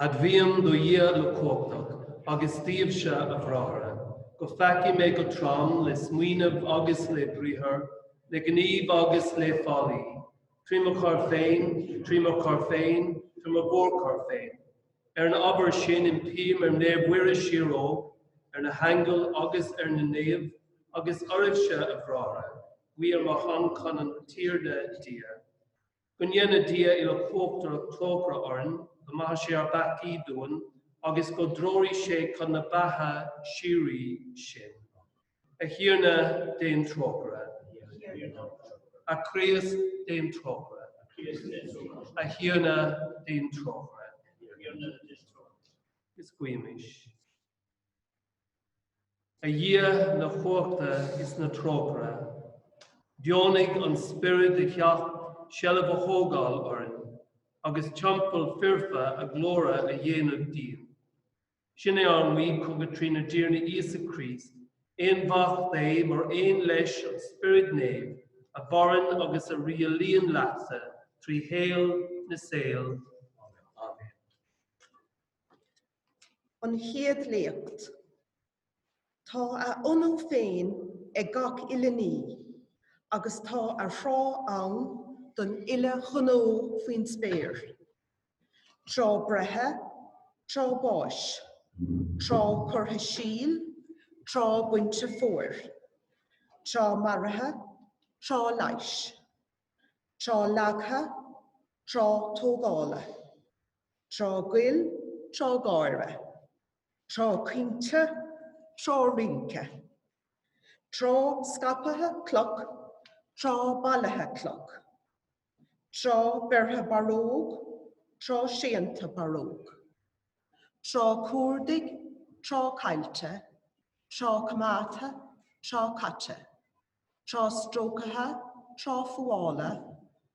Admhaím do Dhia uilechumhachtach agus daoibhse, a bhráithre, gur pheacaigh mé go trom le smaoineamh agus le briathar, le gníomh agus le faillí, trí mo choir féin, trí mo choir féin, trí mo mhórchoir féin. Ar an ábhar sin impím ar Naomh Mhuire síorógh, ar na haingil agus ar na naoimh, agus oraibhse, a bhráithre, guí ar mo shon chun an Tiarna Dia. Go ndéana Dia Uilechumhachtach trócaire orainn, go maithe sé ár bpeacaí dúinn, agus go dtreoraí sé chun na beatha síoraí sinn. A Thiarna, déan trócaire. A Chríost, déan trócaire. A Thiarna, déan trócaire. Is guímis. A Dhia na cumhachta is na trócaire, deonaigh an Spiorad a theacht seilbh a thógáil orainn agus teampall foirfe a ghlóire a dhéanamh dínn. Sin é ár nguí chugat trínár dTiarna Íosa Críost, Aonmhac Dé, mar aon leis an Spiorad Naomh, a mhaireann agus a rialaíonn leatsa trí shaol na saol. Amen. An Chéad Léacht. Tá a ionú féin ag gach uile ní, agus tá a thráth ann don uile ghnó faoin spéir, tráth breithe, tráth báis, tráth curtha síl, tráth bainte fómhair, tráth maraithe, tráth leighis, tráth leagtha, tráth tógála. tráth goil, tráth gáire, tráth caointe, tráth rince, tráth scaipthe cloch, tráth bailithe cloch, tráth beirthe barróg, tráth séanta barróg, tráth cuardaigh, tráth caillte, tráth coimeádtha, tráth caite, tráth stróicthe, tráth fuála,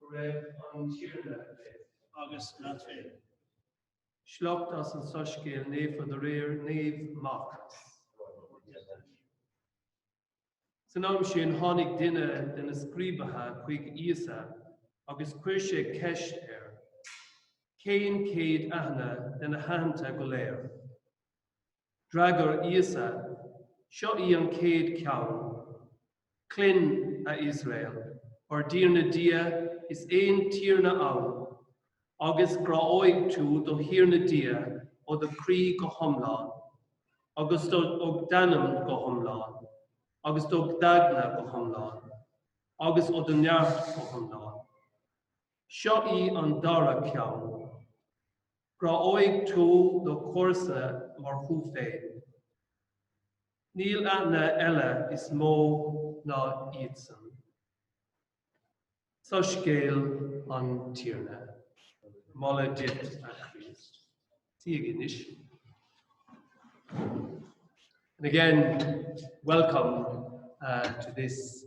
Go raibh an Tiarna libh. agus leat féin. Sliocht as an Soiscéal naofa de réir Naomh Marc. San am sin tháinig duine de na scríobaithe chuig Íosa agus chuir sé ceist air, Cén chéad aithne de na haitheanta go léir? D'fhreagair Íosa, Seo í an chéad cheann. Cluin, a Iosrael, ár dTiarna Dia is aon Tiarna ann, agus gráóidh tú do Thiarna Dia ó do chroí go hiomlán, agus ó d'anam go hiomlán, agus ó d'aigne go hiomlán, agus ó do neart go hiomlán. Seo í an dara ceann. Gráóidh tú do chomharsa mar thú féin. Níl aithne eile is mó ná iadsan. Soiscéal an Tiarna. Moladh duit, a Chríost. Suígí anois. And again, welcome uh, to this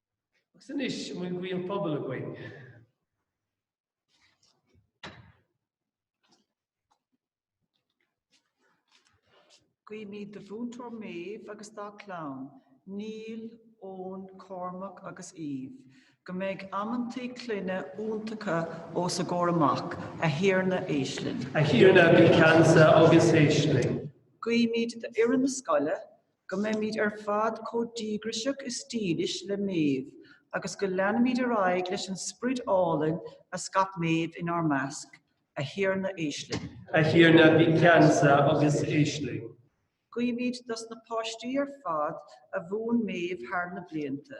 Agus anois, an bhfuil guí an phobail againn? Guímid do Mhúinteoir Méabh agus dá clann, Neil, Eoin, Cormac agus Eve, go mbeidh amantaí clainne iontacha os a gcomhair amach, a Thiarna, éist linn. A Thiarna, bí ceansa agus éist linn. Guímid d'fhoireann na scoile, go mbeimid ar fad chomh díograiseach is dílis le Méabh agus go leanfaimid ar aghaidh leis an sprid álainn a scaip Méabh inár measc, A Thiarna, éist linn. A Thiarna, bí ceansa agus éist linn. Guímid dos na páistí ar fad a mhúin Méabh thar na blianta.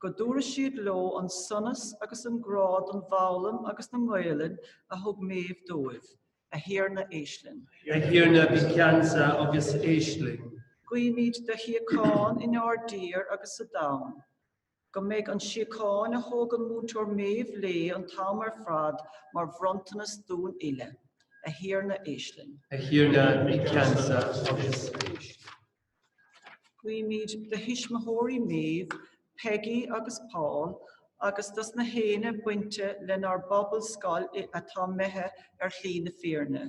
go dtabharfaidh siad leo an sonas agus an grá don bhfoghlaim agus don nGaelainn a thug Méabh dóibh. A Thiarna, éist linn. A Thiarna, bí ceansa agus éist linn. Guímid do shíocháin inár dtír agus sa domhan. Go mbeidh an síocháin a thug an Múinteoir Méabh léi an t-am ar fad mar bhronntanas dúinn uile. A Thiarna, éist linn. A Thiarna, bí ceansa agus éist linn. Guímid do thuismitheoirí Méabh, Peggy agus Paul agus dos na héinne bainteach lenár bpobal scoile atá imithe ar shlí na fírinne.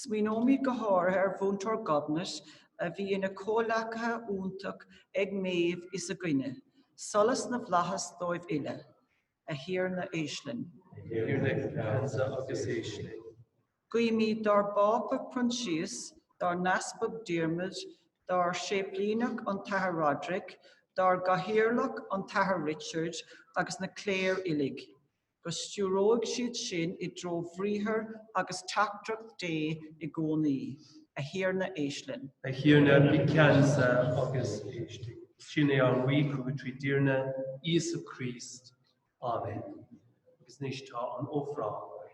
Smaoineoimid go háirithe ar Mhúinteoir Gobnait a bhí ina comhghleacaí iontach ag Méabh is againne. Solas na bhFlaitheas dóibh uile. A Thiarna, éist linn. A Thiarna, bí ceansa agus éist linn. Guímid dár bPápa Proinsias, dár nEaspag Diarmuid, dár séiplíneach an tAthair Roderic, dár gcathaoirleach an tAthair Richard agus na cléir uilig, go stiúróidh siad sinn i dtreo bhriathar agus teachtaireacht Dé i gcónaí. A Thiarna, éist linn. A Thiarna, bí ceansa agus éist linn. Sin é ár nguí chugat trínár dTiarna Íosa Críost. Amen. Agus anois tá an ofráil againn.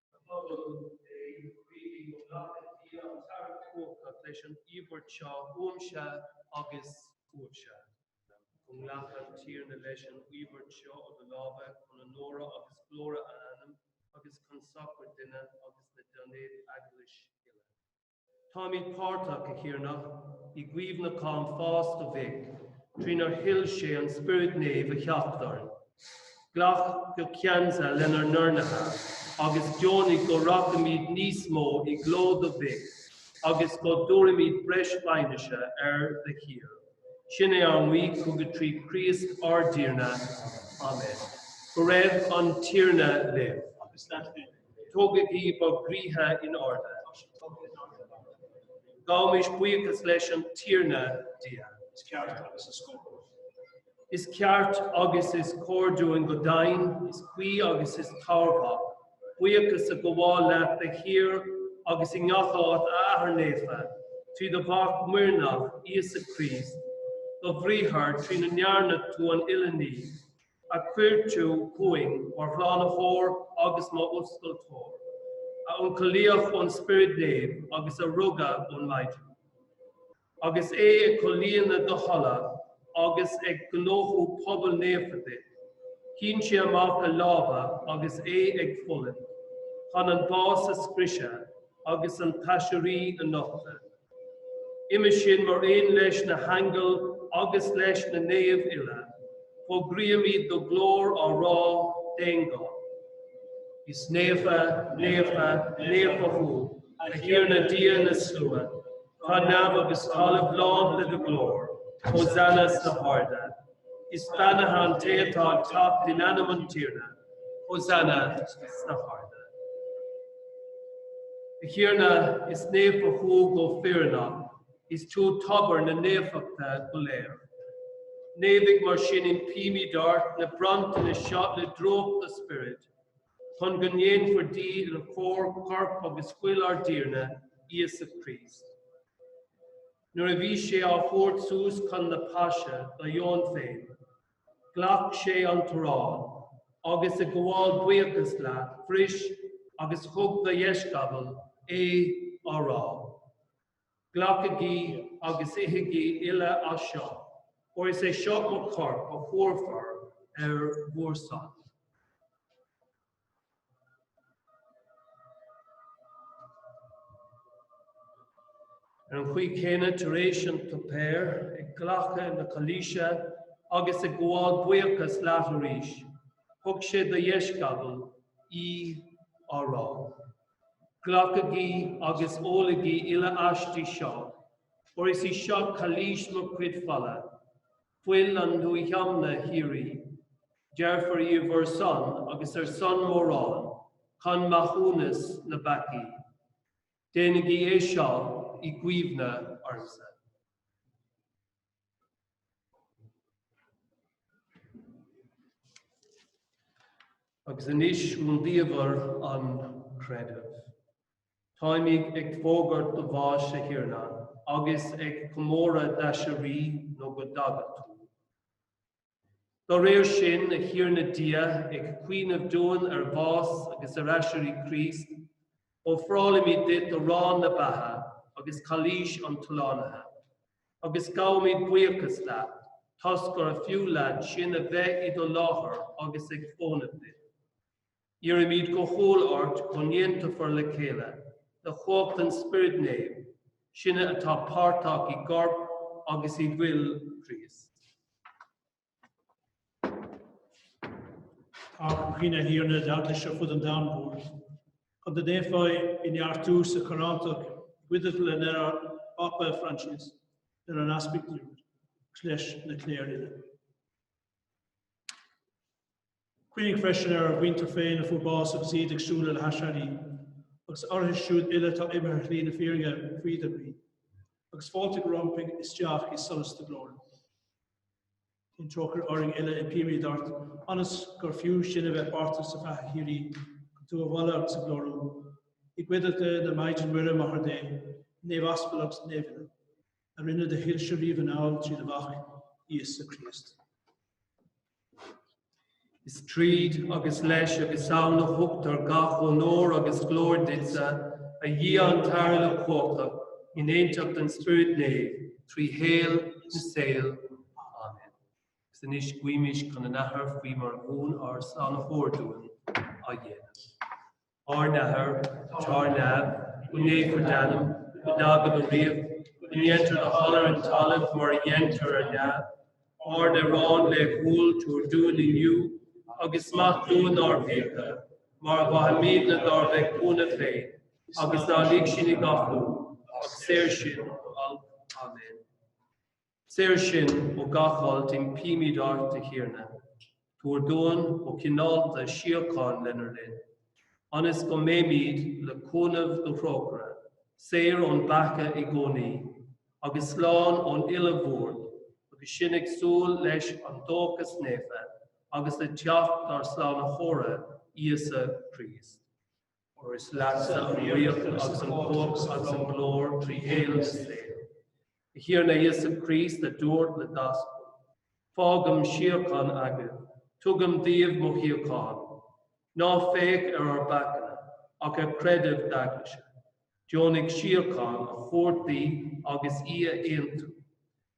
Guígí a phobal Dé go nglacfaidh Dia an tAthair uilechumhachtach leis an íobairt seo uaimse agus uaibhse, go nglaca an Tiarna leis an íobairt seo ó do lámha chun onóra agus glóire a ainm agus chun sochair dúinne agus dá naomh-Eaglais uile. Táimid páirteach, a Thiarna, i gcuimhneachán pháis do Mhic, trínar thuill sé an Spiorad Naomh a theacht orainn. Glac go ceansa lenár n-urnaithe agus deonaigh go rachaimid níos mó i gcló do Mhic agus go dtabharfaimid breis fianaise air de shíor. Sin é ár nguí chugat trí Chríost ár dTiarna. Amen. Go raibh an Tiarna libh. Agus leat féin. Tógaigí bhur gcroíthe in airde. Gabhaimis buíochas leis an Tiarna ár nDia. Is ceart agus is cóir. Is ceart agus is cóir dúinn go deimhin, is cuí agus is tairbheach é, buíochas a ghabháil leat de shíor agus i ngach áit, a Athair Naofa, trí do Mhac muirneach, Íosa Críost, do bhriathar, trína ndearna tú an uile ní. a chuir tú chugainn mar shlánaitheoir agus mar fhuascailteoir, a ionchollaíodh ón Spiorad Naomh agus a rugadh ón Maighdin, agus é ag comhlíonadh do thola agus ag gnóthú pobal naofa duit, shín sé amach a lámha agus é ag fulaingt chun an bás a scriosadh agus an t-aiséirí a nochtadh. Uime sin, mar aon leis na haingil agus leis na naoimh uile, fógraímid do ghlóir á rá, d'aon ghuth, Is naofa, naofa, naofa thú, a Thiarna Dia na Slua, tá neamh agus talamh lán de do ghlóir, Hosanna sna harda. Is beannaithe an té atá ag teacht in ainm an Tiarna! Hosanna sna harda! A Thiarna, is naofa thú go fírinneach, is tú tobar na naofachta go léir. Naomhaigh mar sin impímid ort na bronntanais seo le drúcht do Spioraid, chun go ndéanfar díobh inár gcomhair corp agus fuil ár dTiarna, Íosa Críost. Nuair a bhí sé á thabhairt suas chun na Páise dá dheoin féin, ghlac sé an t-arán, agus ag gabháil buíochas leat, bhris agus thug dá dheisceabail é, á rá, Glacaigí agus ithigí uile as seo, óir is é seo mo chorp a thabharfar ar bhur son. Ar an gcaoi chéanna, tar éis an tsuipéir, ag glacadh na cailíse agus ag gabháil buíochas leat arís, thug sé dá dheisceabail í, á rá, Glacaigí agus ólaigí uile aisti seo, óir is í seo cailís mo chuid fola, fuil an nuathiomna shíoraí. Doirtfear í ar bhur son agus ar son mórán chun maithiúnas na bpeacaí. Déanaigí é seo i gcuimhne ormsa. Agus anois rúndiamhair an chreidimh. Táimid ag fógairt do bháis, a Thiarna, agus ag comóradh d'aiséirí nó go dtaga tú. Dá réir sin, a Thiarna Dia, ag cuimhneamh dúinn ar bhás agus ar aiséirí Chríost, ofrálaimid duit arán na beatha agus cailís an tslánaithe, agus gabhaimid buíochas leat toisc gurbh fhiú leat sinn a bheith i do láthair agus ag fónamh duit. Iarraimid go humhal ort go n-aontófar le chéile le cumhacht an Spioraid Naoimh, sinne atá páirteach i gCorp agus i bhFuil Chríost. Cuimhnigh, a Thiarna, ar d'Eaglais ar fud an domhain mhóir, chun go ndéanfá í a neartú sa charthanacht, i gcuideachta lenár bPápa Francis, lenár nEaspag úd, agus leis an gcléir uile. Cuimhnigh freisin ar ár muintir féin a fuair bás agus iad ag súil le haiséirí, agus orthu siúd uile atá imithe ar shlí na fírinne, faoi do ghnaoi, agus fáiltigh rompu isteach i solas do ghlóire. Déan trócaire orainn uile, impímid ort, ionas gur fiú sinn a bheith páirteach sa bheatha shíoraí, chun tú a mholadh agus a ghlóiriú, i gcuideachta na Maighdine Muire, Máthair Dé, na Naomh-Aspal agus na Naomh uile, a rinne do thoilse riamh anall trí do Mhac, Íosa Críost. Is tríd agus leis agus ann a thugtar gach onóir agus glóir duitse, a Dhia an tAthair uilechumhachtach, in aontacht an Spioraid Naoimh, trí shaol na saol. Amen. Agus anois guímis chun an Athar faoi mar a mhúin ár Slánaitheoir dúinn a dhéanamh. Ár nAthair, atá ar neamh, go naofar d'ainm, go dtaga do ríocht, go ndéntar do thoil ar an talamh mar a dhéantar ar neamh. Ár n-arán laethúil tabhair dúinn inniu, agus maith dúinn ár bhfiacha, mar a mhaithimidne dár bhféichiúna féin, agus ná lig sinn i gcathú, ach saor sinn ó olc. Amen. Saor sinn ó gach olc impímid ort, a Thiarna. Tabhair dúinn go cineálta síocháin lenár linn, ionas go mbeimid, le cúnamh do thrócaire, saor ón bpeaca i gcónaí, agus slán ón uile bhuairt, agus sinn ag súil leis an dóchas naofa agus le teacht ár Slánaitheora, Íosa Críost. óir is leatsa an ríocht agus an chumhacht agus an ghlóir trí shaol na saol. A Thiarna Íosa Críost, a dúirt le d'aspail, Fágaim síocháin agaibh, tugaim daoibh mo shíocháin, ná féach ar ár bpeacaíne, ach ar chreideamh d'Eaglaise, deonaigh síocháin a thabhairt di agus í a aontú,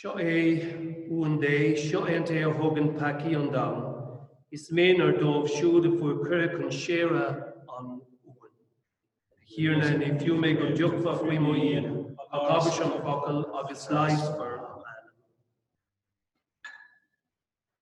Seo é uan Dé, seo é an té a thógann peacaí an domhain. Is méanar dóibh siúd a fuair cuireadh chun séire an Uain. A Thiarna, ní fiú mé go dtiocfá faoi mo dhíon, ach abairse an focal agus leigheasfar m'anam.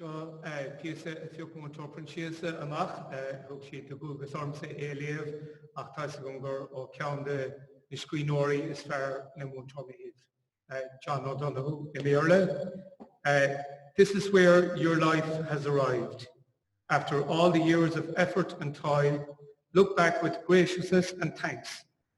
Seo píosa a phioc Múinteoir Proinsiasa amach. Thug siad do dhualgas ormsa é a léamh ach tá's agam gur ó cheann de na scríbhneoirí is fearr le Múinteoir Mairéad, John O'Donohue i mBéarla. This is where your life has arrived. After all the years of effort and toil, look back with graciousness and thanks.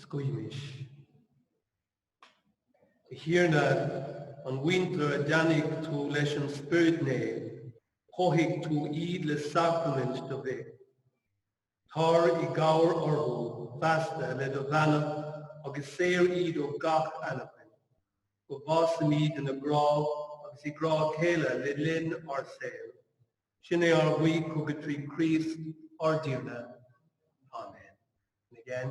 is guímis. A Thiarna, an mhuintir a bheannaigh tú leis an Spiorad Naomh, chothaigh tú iad le sacraimint do Mhic. Tar i gcabhair orthu feasta le do bheannacht agus saor iad ó gach anachain. Go bhfásaimid ina grá agus i ngrá a chéile le linn ár saoil. Sin é ár nguí chugat trí Chríost ár dTiarna. Amen. And again.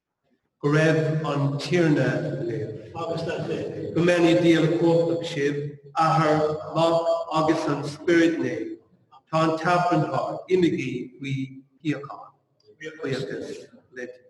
Go raibh an Tiarna libh. Agus leat féin. Go mbeannaí Dia uilechumhachtach sibh, Athair, Mac agus Spiorad Naomh. Tá an tAifreann thart, imigí faoi shíocháin. Buíochas le Dia.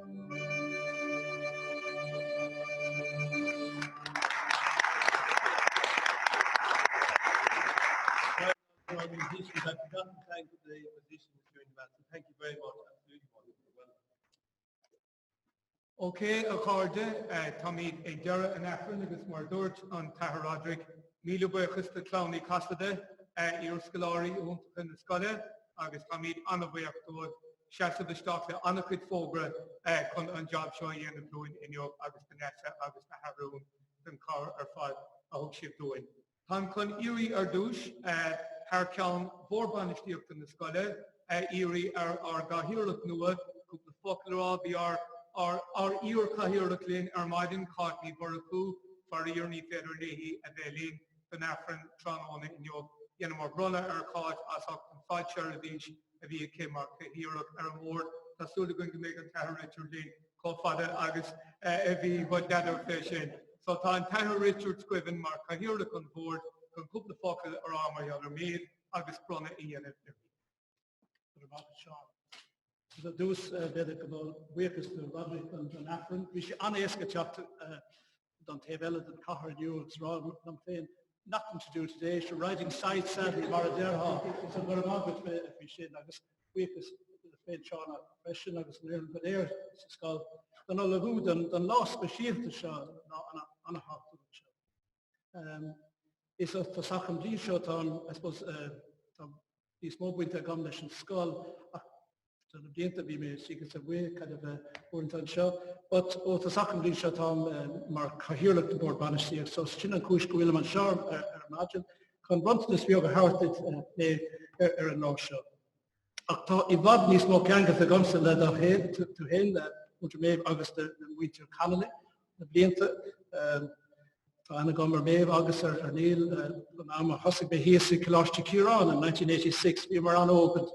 Ok a chairde, táimid ag deireadh an Aifrinn agus mar a dúirt an tAthair Roderick, míle buíochas do Chlann Uí Chasaide, iar-scoláirí iontacha na scoile, agus táimid an-bhuíoch dóibh. seasamh isteach le ana-chuid fógra chun an jab seo a dhéanamh dúinn inniu agus Vanessa agus na hArúin don chabhair ar fad a thug siad dúinn. Táim chun a iarraidh ar dtús, thar ceann Bhord Bainistíochta na scoile, a iarraidh ar ár gCathaoirleach nua cúpla focal a rá. Bhí ár ár iar-Chathaoirleach linn ar maidin, Cáit Ní Mhurchadha, faraor ní féidir léi a bheith linn don Aifreann tráthnóna inniu. Dheineamar bronnadh ar Cháit as ucht an fhaid seirbhíse a bhí aici mar Cathaoirleach ar an mBord. Tá súil againn go mbeidh an tAthair Richard linn chomh fada agus a bhí God add her fé sin. So tá an tAthair Richard Gibbons mar Chathaoirleach an Bhoird chun cúpla focal a rá mar gheall ar Méabh agus bronnadh a dhéanamh uirthi. Go raibh maith agat Seán. Agus ar dtús b'fhéidir gabháil buíochas do Roderick don Aifreann. Bhí sé an-éasca teacht don taobh eile den chathair inniu agus rá liom féin nothing to do today, sure riding side saddle mar a déarfá, so go raibh maith agat faoi sin agus buíochas duit féin Seán freisin agus an fhoireann go léir sa scoil don ullmhú don lá speisialta seo, lá an-thábhachtach seo. Is ó thosach an bhliain seo tá an I suppose tá níos mó bainte agam leis an scoil ach Do na blianta bhí mé, is dócha, isteach is amach uaireanta anseo. But ó thosach an bhliain seo táim mar Cathaoirleach den Bord Bainistíocht so sin an chúis go bhfuilim anseo ar maidin chun bronntanas beag a thabhairt duit Méabh ar an lá seo. Ach tá i bhfad níos mó ceangailte agamsa le do, leat féin, Muintir Méabh agus do mhuintir Connolly. na blianta. Tá aithne agam ar Méabh agus ar Niall ón am a thosaigh mé thíos i Coláiste Chiaráin in 1986, bhíomar an-óg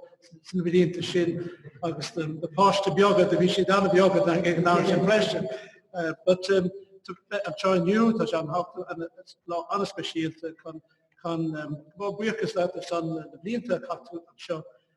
sna blianta sin agus na páiste beaga do bhí siad ana-bheaga ag an am sin freisin. But um, anseo inniu tá sé lá ana-speisialta chun chun um, gabháil buíochas leat as na blianta a chaith tú anseo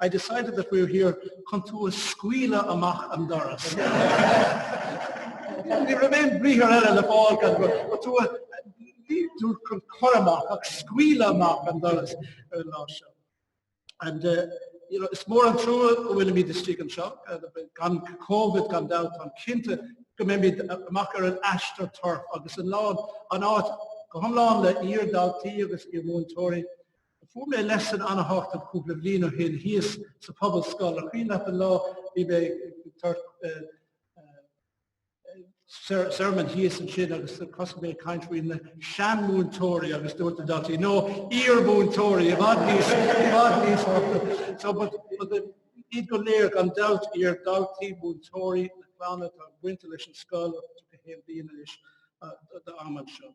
I decided that we were here chun tú a scaoileadh amach an doras. Ní raibh aon bhriathar eile le fáil gan go raibh tú a dúirt chun cur amach ach scaoileadh amach an doras ar an lá seo. And uh you know is mór an trua go bhfuilimid istigh anseo gan Covid gan dabht, táim cinnte go mbeimid amach ar an astroturf agus an lá an áit go hiomlán le iar-dhaltaí agus iar-mhúinteoirí. Fuair mé lesson ana-thábhachtach cúpla bliain ó shin thíos sa Phobalscoil. An cuimhin leat an lá bhí mé ag tabhairt sermon thíos ansin agus thosaigh mé ag caint faoi na seanmhúinteoirí agus dúirt na daltaí, No, iarmhúinteoirí i bhfad níos, i bhfad níos tábhachtaí. So but but iad go léir gan dabht, iar-dhaltaí, múinteoirí, na clanna atá bainte leis an scoil ó 31 bliain anois, d'am anseo.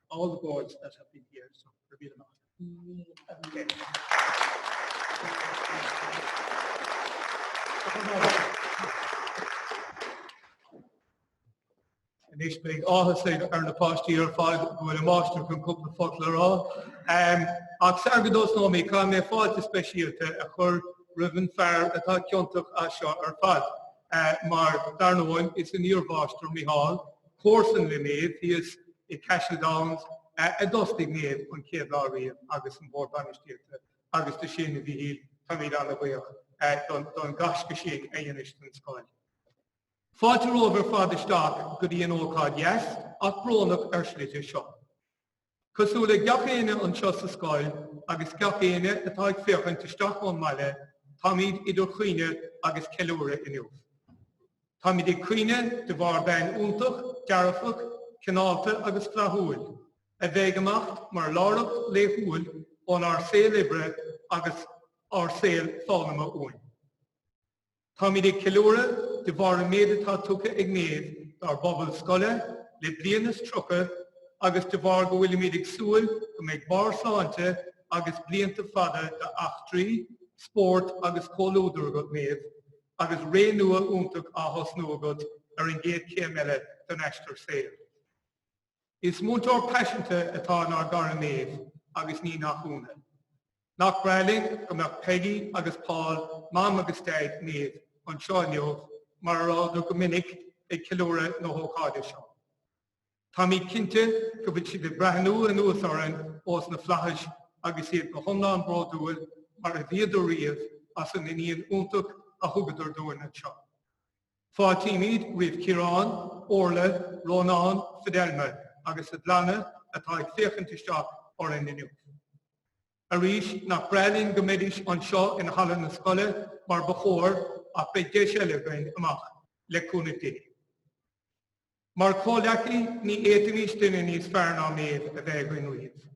all the boards that have been here, so they're being among. Okay. And this being all has said earn a past year five with a master from couple of folklore all. Um ach sa go dos no me ka me fáilte speisialta a chur riven fair atá ciontach as seo ar fad. Uh, mar darnamhain is an íorbháistar Mihal Comharsan le Méabh, thíos i Cashel Downs, a d'fhostaigh Méabh an chéad lá riamh agus an Bord Bainistíochta agus do sin, a Mhíchíl, táimid ana-bhuíoch don ghaisce sin a dheinis don scoil. Fáilte romhaibh ar fad isteach go dtí an ócáid dheas ach brónach ar slite seo. Cosúil le gach éinne anseo sa scoil agus gach éinne atá ag féachaint isteach ón mbaile, táimid idir chaoineadh agus ceiliúradh inniu. Táimid ag caoineadh de bharr bean iontach, dearfach, cineálta agus flaithiúil, a bheidh ag imeacht mar láithreacht laethúil ónár saol oibre agus ár saol foghlama uainn. Táimid ag ceiliúradh de bharr an méid atá tugtha ag Méabh dár bpobal scoile le bliain is tríocha agus de bharr go bhfuilimid ag súil go mbeidh barr sláinte agus blianta fada d'eachtraí, spórt agus comhluadar agat, Méabh, agus ré nua iontach á thosnú agat ar an gcéad chéim eile den aistear saoil. Is múinteoir paiseanta atá in ár gcara Méabh agus ní nach ionadh. Nach breá linn go mbeadh Peggy agus Paul, Mam agus Daid Méabh, anseo inniu, mar a rabhadar go minic ag ceiliúradh na hócáide seo. Táimid cinnte go bhfuil siad ag breathnú anuas orainn ós na flaithis agus iad go hiomlán bródúil, mar a bhíodar riamh, as an iníon iontach a thugadar dúinn anseo. Fáiltímid roimh Chiarán, Orla, Rónán, Fidelma agus a gclanna atá ag féachaint isteach orainn inniu. Arís, nach breá linn go mbeidís anseo in Halla na Scoile mar ba chóir ach beidh deis eile againn amach, le cúnamh Dé. Mar chomhleacaí, ní fhéadfaimís duine níos fearr ná Méabh a bheith againn riamh.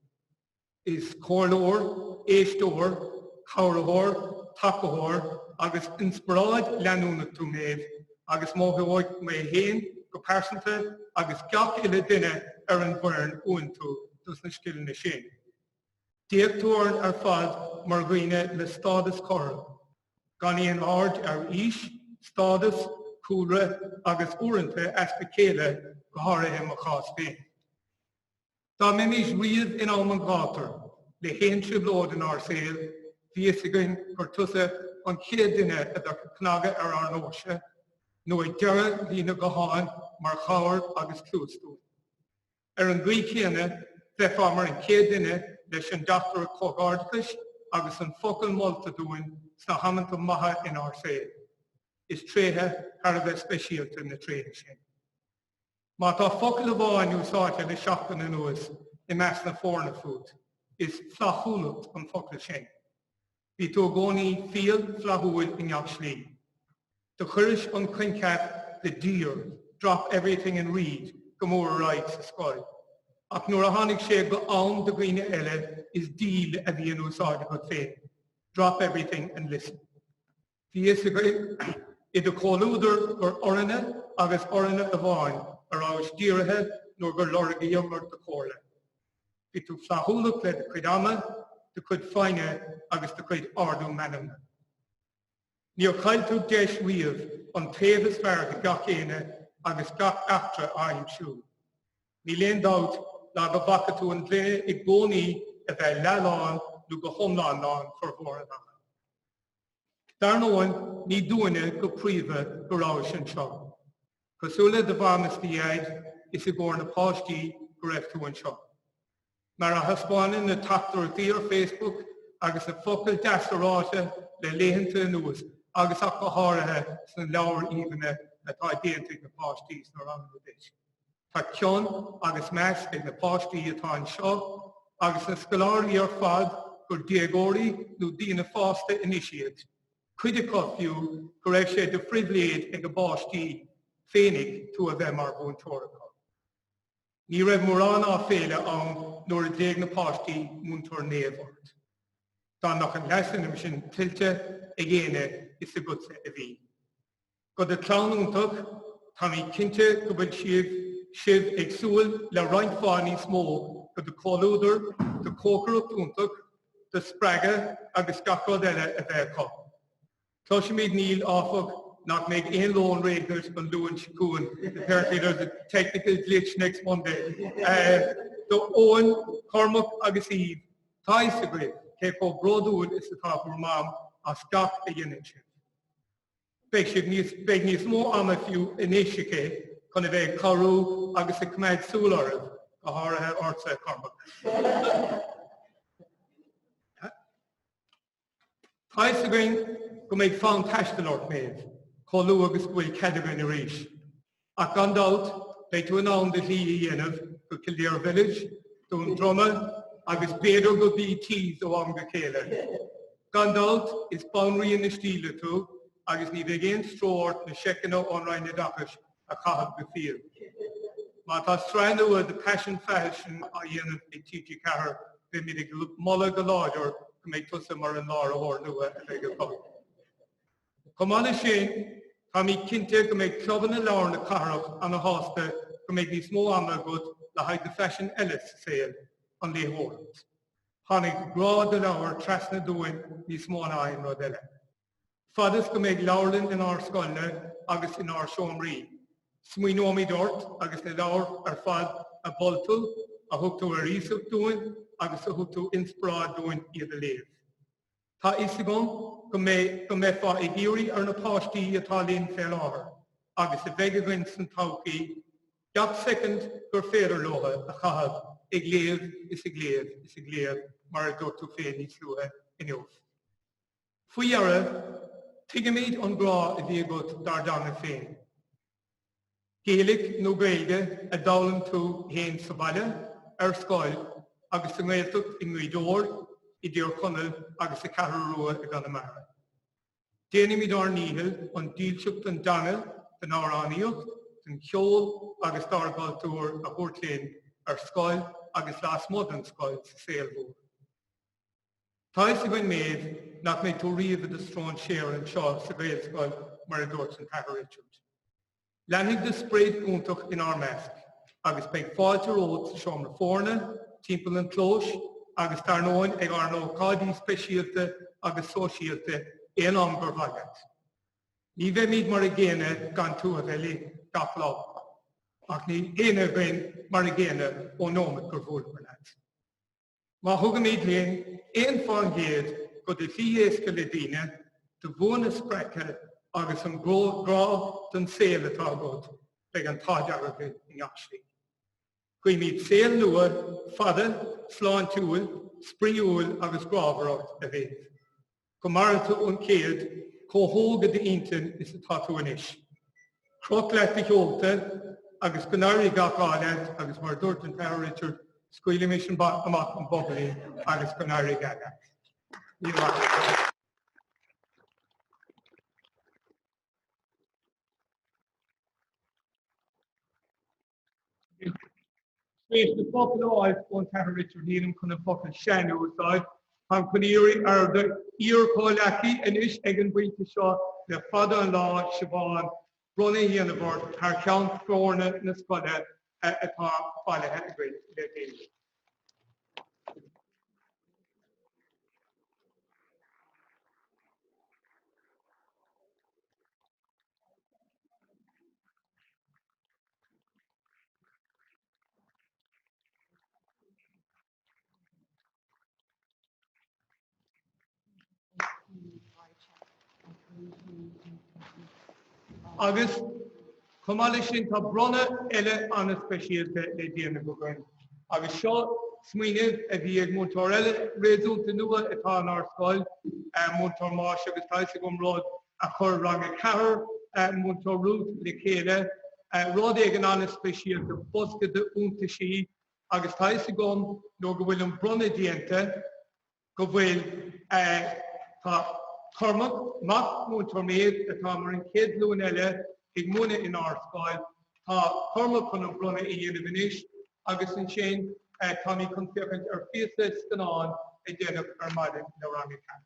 Is comhairleoir, éisteoir, cabhraitheoir, tacaitheoir agus inspioráid leanúnach tú, Méabh, agus mothóidh mé féin go pearsanta agus gach uile duine ar an bhfoireann uainn tú dos na scileanna sin. D'fhéach tú orainn ar fad mar dhaoine le stádas cothrom, gan aon aird ar aois, stádas, cúlra agus uaireanta easpa céille, go háirithe i mo chás féin. Dá mbeimis riamh in am an ghátair le haon trioblóid inár saol, bhí fhios againn gur tusa an chéad duine a bheadh ag cnagadh ar ár ndóirse, nó ag deireadh líne gutháin mar chabhair agus cluas dúinn. Ar an gcaoi chéanna, bheifeá mar an chéad duine leis an dteachtaireacht comhghairdeachais agus an focal molta dúinn sna hamanta maithe inár saol. Is tréithe thar a bheith speisialta na tréithe sin. Má tá focal amháin úsáidte le seachtain anuas i measc na foirne fút, is flaithiúlacht an focal sin. Bhí tú i gcónaí fial flaithiúil i ngach slí. Do chuiris an coincheap de 'DEAR, drop everything and read' go mór ar aghaidh sa scoil, ach nuair a tháinig sé go am do dhaoine eile is 'deal' a bhí in úsáid agat féin, 'drop everything and listen'. Bhí fhios againn i do chomhluadar gur orainne agus orainne amháin a rabhais dírithe nuair gur lorgaíomar do chomhairle. Bhí tú flaithiúlach le do chuid ama, do chuid foighne agus do chuid ardú meanmna. Níor chaill tú deis riamh an taobh is fearr de gach éinne agus gach eachtra a aimsiú. Níl aon dabht ná go bhfaca tú an ghloine i gcónaí a bheith leath-lán nó go hiomlán lán formhór an ama. Dar ndóigh, ní dúinne go príomha go rabhais anseo. Cosúil le do mham is do dhaid, is i gcomhair na páistí go raibh tú anseo. Mar a thaispeánann na teachtaireachtaí ar Facebook agus na focail deasa ráite le laethanta anuas agus ach go háirithe sna leabhair aoibhne atá déanta ag na páistí sna ranganna duit, Tá cion agus meas ag na páistí atá anseo, agus na scoláirí ar fad, gur déagóirí nó daoine fásta anois iad, cuid acu, fiú, go raibh sé de phribhléid ag a bpáistí féinig tú a bheith mar mhúinteoir acu. Ní raibh mórán áibhéile ann nuair a ghlaoigh na páistí, Múinteoir Naomh ort. Dá mbeadh an leasainm sin tuillte ag éinne is agatsa a bhí. Go do chlann iontach, táimid cinnte go bhfuil sibh, sibh ag súil le roinnt mhaith níos mó de do chomhluadar, do chócaireacht iontach, do spreagadh agus gach rud eile a bheith acu. Cloisimid Neil, áfach, nach mbeidh aon lón réidh agat an Luan seo chugainn, apparently there's a technical glitch next Monday. Do Eoin, Cormac agus Eve, tá a fhios agaibh cé chomh bródúil is atá bhur mam as gach a dhéanann sibh. Beidh siad níos, beidh níos mó ama fiú anois aici chun a bheith ag cabhrú agus ag coimeád súil oraibh, go háirithe ortsa, a Chormaic. Tá 'fhios againn go mbeidh fonn taistil ort, Maeve, chomh luath agus go bhfuil cead againn arís. Ach gan dabht, beidh tú in ann do shlí a dhéanamh go Kildare Village, Dún Droma agus b'fhéidir go BT's ó am go chéile. Gan dabht, is banríon na stíle tú agus ní bheidh aon stró ort na seiceanna ón Roinn Oideachais a chaitheamh go fial. Má tá sraith nua de Paisean Faisean á dhéanamh ag TG4, beimid ag moladh go láidir go mbeidh tusa mar an láithreoir nua a bheidh acu. Chomh maith leis sin, táimid cinnte go mbeidh clubanna leabhar na cathrach ana shásta go mbeidh níos mó ama agat le haghaidh do phaisean eile sa saol, an léitheoireacht. Tháinig do ghrá do leabhair trasna dúinn níos mó ná aon rud eile. Fad is go mbeidh leabharlann inár scoileanna agus inár seomraí, smaoineoimid ort agus na leabhair ar fad a mhol tú, a thug tú ar iasacht dúinn agus a thug tú inspioráid dúinn iad a léamh. Tá fhios againn go mbeidh, go mbeifeá ag iarraidh ar na páistí atá linn fé láthair, agus a bheidh againn san todhchaí, gach soicind gur féidir leo a chaitheamh ag léamh is ag léamh is ag léamh mar a dúirt tú féin níos luaithe inniu. Faoi dheireadh, tuigimid an grá a bhí agat dár dteanga féin. Gaeilg nó Gaeilge a d'fhoghlaim tú fhéin sa bhaile, ar scoil, agus sa nGaeltacht i nGaoth Dobhair, i dTír Chonaill agus sa Cheathrú Rua i gConamara. Déanfaimid ár ndícheall an dílseacht don dteanga, don amhránaíocht, don cheol agus dár gcultúr a thabhairt linn ar scoil agus lasmuigh den scoil sa saol mhór. Tá's againn, Maeve, nach mbeidh tú riamh i do stróinséar anseo sa Ghaelscoil mar a dúirt an tAthair Richard. Leanfaidh do sprid iontach inár measc agus beidh fáilte romhat sa seomra foirne, timpeall an chlóis agus dar ndóin ag ár n-ócáidí speisialta agus sóisialta aon am gur mhaith leat. Ní bheimid mar a gcéanna gan tú a bheith linn gach lá. Ach níl éinne againn mar a gcéanna ón nóimeat gur bhuaileamar leat. Má thugaimid linn aon faoin gcéad de do fhéith éasca le daoine do bhua a spreagadh agus an grá don saol atá agat, beidh an t-ádh dearg orainn i ngach slí. Guímid saol nua fada, sláintiúil, spraíúil agus grámhar ort, a Mhéabh. go maire tú an céad chomh hóg céanna i d'intinn is atá tú anois. Croch leat do sheolta agus go n-éirí gach ádh leat agus mar a dúirt an tAthair Richard, scaoilimis amach an bobailín agus go n-éirí go geal leat. Míle maith. Tar éis na focail a fháil ón Athair Richard Needham chun an focal sean a úsáid. Táim chun iarraidh ar d'iarchomhghleacaí anois ag an bpointe seo le fada an lá, Siobhán, bronnadh a dhéanamh ort thar cheann foirne na scoile atá bailithe le déanaí. Agus chomh maith leis sin tá bronnadh eile an-speisialta le déanamh againn. Agus seo smaoineamh a bhí ag múinteoir eile réasúnta nua, atá inár scoil, Múinteoir Máis agus tá a fhios agam rud a chuir Rang a ceathair, Múinteoir Ruth, le chéile, rud éigin an-speisialta, bosca d'iontaisí, agus tá a fhios agam, nuair go bhfuil an bronnadh déanta. go bhfuil Tá Cormac, mac Múinteoir Méabh, atá mar an chéad ghlúin eile ag múineadh in ár scoil, tá Cormac chun an bronnadh a dhéanamh anois agus ansin táimid chun féachaint ar phíosa scannáin a deineadh ar maidin le Rang a ceathair.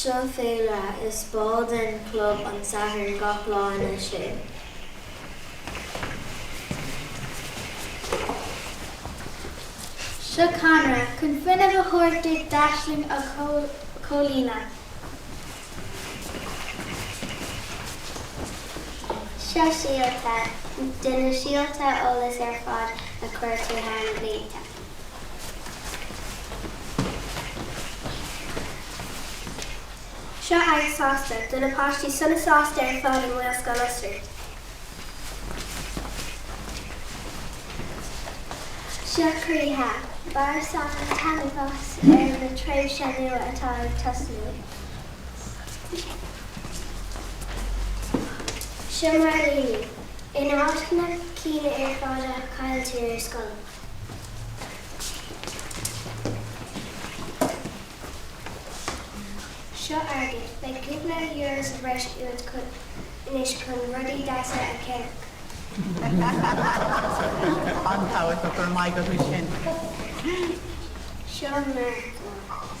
Seo féilire, is ball den chlub An Satharn gach lá anois é. Seo cadhnra chun fuinneamh a thabhairt duit d'aisling a chomhlíonadh. Seo síolta do na síolta eolais ar fad a chuir tú thar na blianta. Seo aghaidh sásta do na páistí sona sásta ar fad i nGaelscoil Osraí. Seo croíthe, bain sásamh agus taitneamh as an tréimhse nua atá ag tosnú. Seo mar a bhí. In áit na gceann ar fad a chailltear ar scoil, seo airgead le cúpla euro sa bhreis anois chun rudaí deasa a cheannach. An-tábhachtach, go raibh maith agat as sin. Seo mar atá.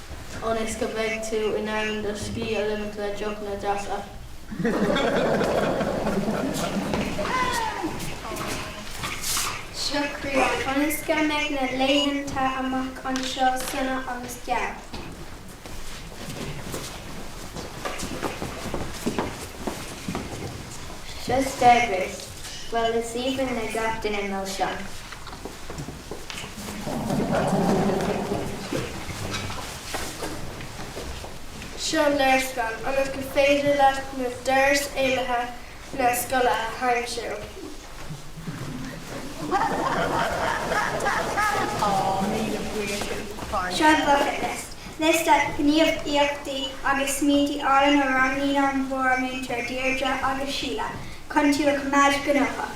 ionas go mbeidh tú in ann do scíth a ligint le deochanna deasa. Seo críoch, ionas go mbeidh na laethanta amach anseo sona agus geal. Seo spreagadh, bhuel, is aoibhinn le gach duine milseáin! Seo léarscáil ionas gur féidir leat na doras éalaithe na scoile a aimsiú. Seo bucketlist, liosta gníomhaíochtaí agus smaointí álainn a roghnaigh an bpríomhmhúinteoir Deirdre agus Síle chun tú a choimeád gnóthach.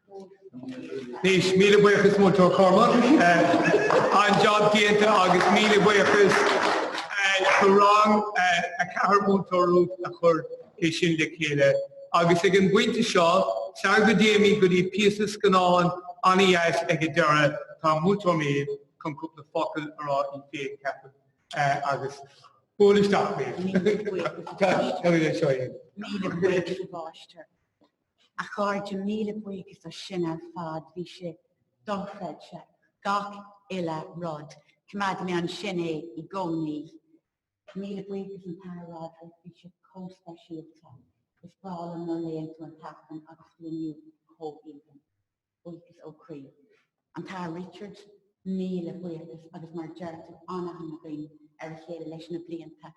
Anois, míle buíochas Múinteoir Cormac, an job déanta agus míle buíochas do Rang 4 Múinteoir Ruth a chuir é sin le chéile. Agus ag an bpointe seo, sara go dtéimid go dtí píosa scannáin an-deas ag an deireadh, tá Múinteoir Maeve chun cúpla focal a rá í féin, ceapaim. Agus buail isteach, Maeve. Míle buíochas a Mháistir. A chairde, míle buíochas as sin ar fad, bhí sé dochreidte, gach uile rud. Coimeádfaidh mé ansin é i gcónaí. Míle buíochas an tAthair Richard, bhí sé chomh speisialta. Is breá liom nuair a léann tú an tAifreann agus bhí inniu chomh aoibhinn. Buíochas ó chroí. An tAthair Richard, míle buíochas agus mar a deir tú, an-aithne againn ar a chéile leis na blianta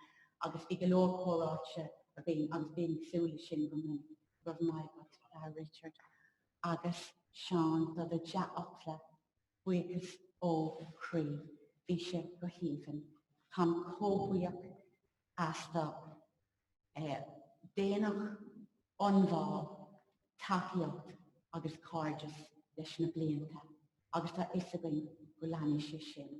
agus bhí go leor comhráite againn agus bím ag súil leis sin go minic. Go raibh maith agat, Athair Richard. Agus Seán, do do dhea-fhocla, buíochas ó chroí, bhí sé go haoibhinn. Táim chomh buíoch as do. daonnacht, ionbhá, tacaíocht agus cairdeas leis na blianta agus tá fhios againn go leanfaidh sé sin.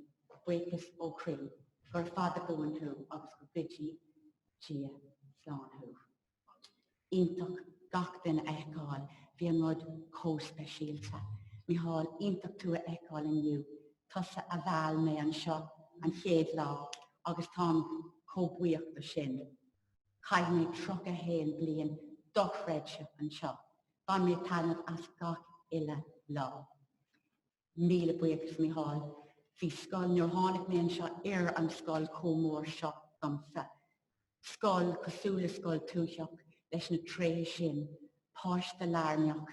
Buíochas ó chroí. Gura fada buan thú agus go dtuga Dia slán thú. Iontach gach duine a fheiceáil. Bhí an rud chomh speisialta. Micheál, iontach tú a fheiceáil inniu. Tusa a mheall mé anseo an chéad lá agus táim chomh buíoch de sin. Chaith mé 31 bliain dochreidte anseo, bhain mé taitneamh as gach uile lá. Míle buíochas Mícheál. Bhí scoil nuair tháinig mé anseo, ní raibh an scoil chomh mór seo domsa. scoil cosúil le scoil tuaitheach leis na tréithe sin, páiste lárnach,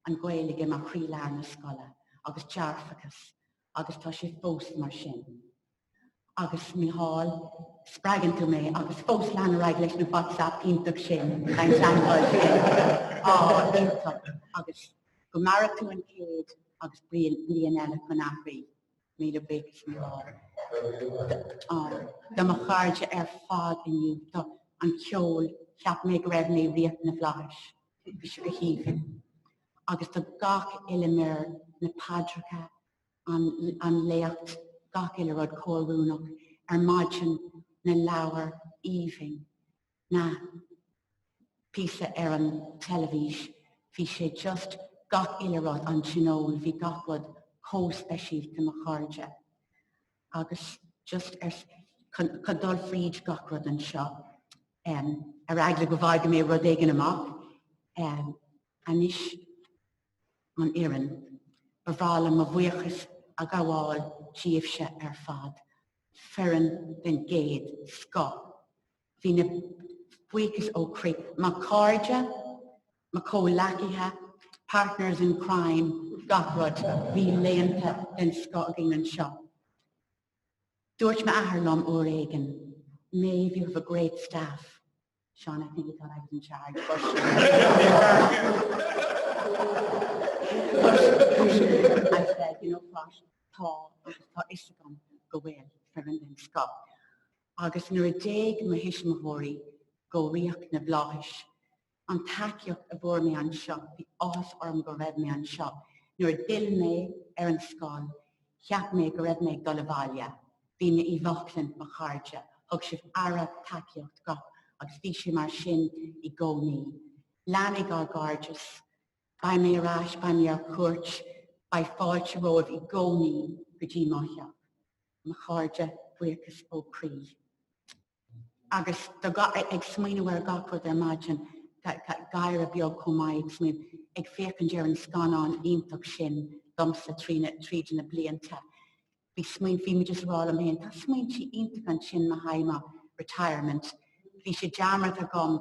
an Ghaeilge mar chroílár na scoile agus dearfachas agus tá sé fós mar sin. Agus Micheál, spreagann tú mé agus fós lean ar aghaidh leis na Whatsapp iontach sin, an teagmháil sin á iontach agus go maire tú an céad agus bliain eile chun aithrí. Míle buíochas a Mhichíl. Do mo chairde ar fad inniu, an ceol, cheap mé go raibh mé Ríocht na bhFlaitheas, bhí sé go haoibhinn. Agus do gach uile mhír, na paidreacha, an an léacht, gach uile rud chomh oiriúnach ar maidin, na leabhair, aoibhinn. na píosa ar an teilifís, bhí sé just gach uile rud, an tionól, bhí gach rud chomh speisialta, mo chairde agus just chun dul fríd gach rud anseo em ar eagla go bhfágfaidh mé rud éigin amach em anois an fhoireann, ba bhreá liom mo bhuíochas a ghabháil díobhse ar fad, foireann den gcéad scoth. Míle buíochas ó chroí. Mo chairde, mo chomhleacaithe, partners in crime, gach rud, bhí laethanta den scoth againn anseo. Dúirt m'athair liom uair éigin, Maeve, you have a great staff. Sean, I think he thought I was in charge, but I said, you know what, tá, tá fhios agam go bhfuil foireann den scoth. agus nuair a d'éalaigh mo thuismitheoirí go ríocht na bhflaitheas, an tacaíocht a bhfuair mé anseo, bhí áthas orm go raibh mé anseo, nuair a d'fhill mé ar an scoil, cheap mé go raibh mé ag dul abhaile, bhí mé i mbaclainn mo chairde, thug sibh aire, tacaíocht, gach agus bhí sé mar sin i gcónaí. Leanfaidh ár gcairdeas. Beidh mé ar ais, beidh mé ar cuairt, beidh fáilte romhaibh i gcónaí go dtí mo theach. mo chairde, buíochas ó chroí. Agus ag smaoineamh ar gach rud ar maidin, gáire beag chomh maith ag smaoineamh, ag féachaint ar an scannán iontach sin domsa tríd na blianta. Bhí smaointe, bhí mé just ag rá liom féin, tá smaointe iontacha ansin le haghaidh mo retirement. Bhí sé dearmadta agam,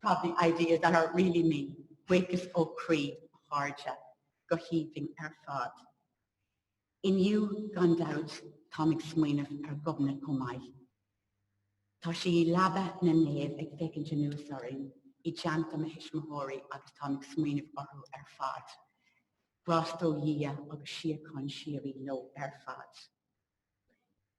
Probably ideas that are really me, buíochas ó chroí, a chairde, go haoibhinn ar fad. Inniu, gan dabht, táim ag smaoineamh ar Ghobnait chomh maith. Tá sí i leaba na naomh ag féachaint anuas orainn, i dteannta mo thuismitheoirí agus táim ag smaoineamh orthu ar fad. Grásta ó Dhia agus síocháin síoraí leo ar fad.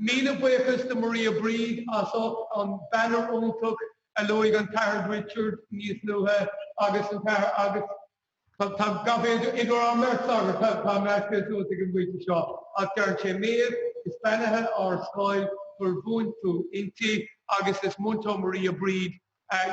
Míle buíochas do Maria Bríd as ucht an banner iontach a luaigh an tAthair Richard níos luaithe agus an tAthair agus tá, idir an mbeirt sagart, táim measctha suas ag an bpointe seo, ach deireann sé Méabh, is beannaithe ár scoil gur mhúin tú inti agus is Múinteoir Maria Bríd,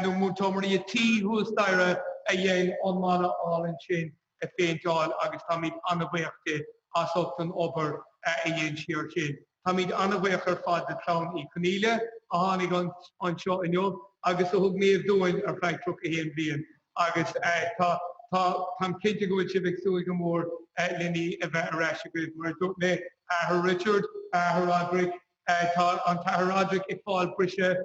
nó Múinteoir Maria T thuas staighre a dhein an mana álainn sin. a phéinteáil agus táimid an-bhuíoch di as ucht an obair a dhein sí air sin. Táimid an-bhuíoch ar fad de chlann Uí Chonaíle a tháinig anseo inniu agus a thug Méabh dúinn ar feadh 31 bliain agus tá táim cinnte go bhfuil sibh ag súil go mór len í a bheith ar ais agaibh. Mar a dúirt mé, Athair Richard, Athair Roderick, tá an tAthair Roderick ag fáil briseadh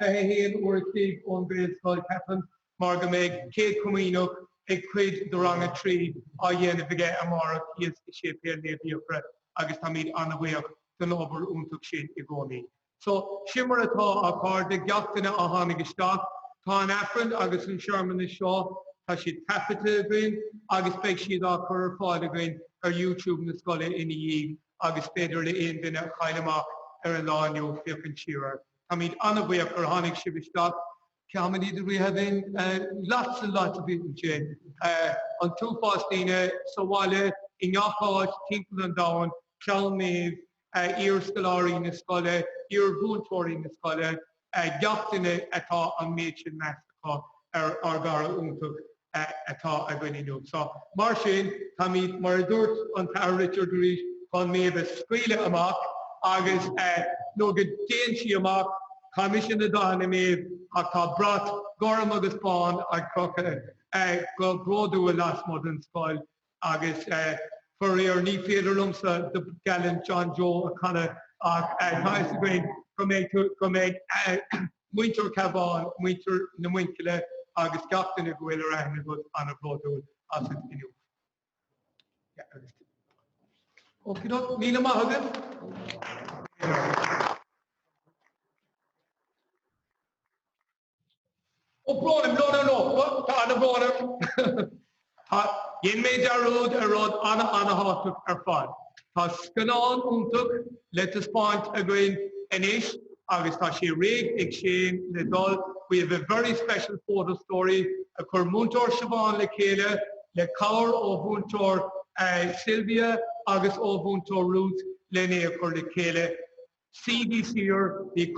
21 uair an chloig ón Ghaelscoil, ceapaim. mar go mbeidh Céad Comaoineach ag cuid de Rang a Trí á dhéanamh aige amárach thíos i Séipéal Naomh Fhiachra agus táimid an-bhuíoch den obair iontach sin i gcónaí. So, sin mar atá, a chairde, gach duine a tháinig isteach, tá an Aifreann agus an searmanas seo, tá siad taifeadta againn agus beidh siad á chur ar fáil againn ar YouTube na scoile ina dhiaidh agus is féidir le haon duine a chaill amach ar an lá inniu féachaint siar air. Táimid an-bhuíoch gur tháinig sibh isteach. Cé mhéad are we having? Lots and lots of people ansin. An t-uafás daoine, sa bhaile, i ngach áit, timpeall an domhain, clann Mhéabh, iar-scoláirí na scoile, iar-mhúinteoirí na scoile, gach duine atá an méid sin meas acu ar ár gcara iontach atá againn inniu. So mar sin, táimid, mar a dúirt an tAthair Richard arís, chun Méabh a scaoileadh amach agus nó go dtéann sí amach. Chaith mise na dathanna Méabh ach tá brat gorm agus bán ag crochadh go bródúil lasmuigh den scoil. Agus faraor ní féidir liomsa The Gallant John Joe a chanadh ach tá a fhios againn go mbeidh muintir Chabháin, muintir na Muinchille agus gach duine go bhfuil ar aithne agat an-bhródúil asat inniu. Okie doke, míle maith agaibh! Oh, Brónaim, no, no, no, tá ana bhrón orm. Tá, dhein mé dearúd ar rud ana ana thábhachtach ar fad. Tá scannán iontach le taispeáint againn anois agus tá sé réidh ag Seán le dul, we have a very special photo story a chuir Múinteoir Siobhán le chéile le cabhair ó Mhúinteoir Sylvia agus ó Mhúinteoir Ruth len é a chur le chéile. Suígí siar, bíodh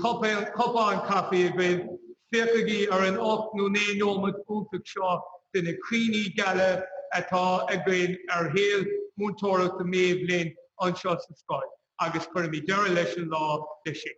cupán caife agaibh, féachaigí ar an ocht nó naoi neomat iontach seo de na cuimhní geala atá againn ar shaol múinteoireachta Mhéabh linn anseo sa scoil agus cuirfimid deireadh leis an lá le sin.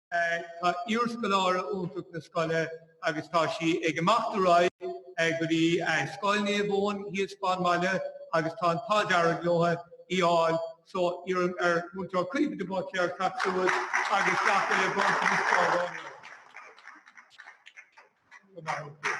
Tá iarscoláire iontach na scoile agus tá sí ag imeacht ar aghaidh go dtí Scoil Naomh Eoin thíos fán mbaile agus tá an t-ádh dearg leo í fháil so iarraim ar Mhúinteoir Caoimhe de Buitléar teacht suas agus gach uile bronntanas ceardlainne a thabhairt di.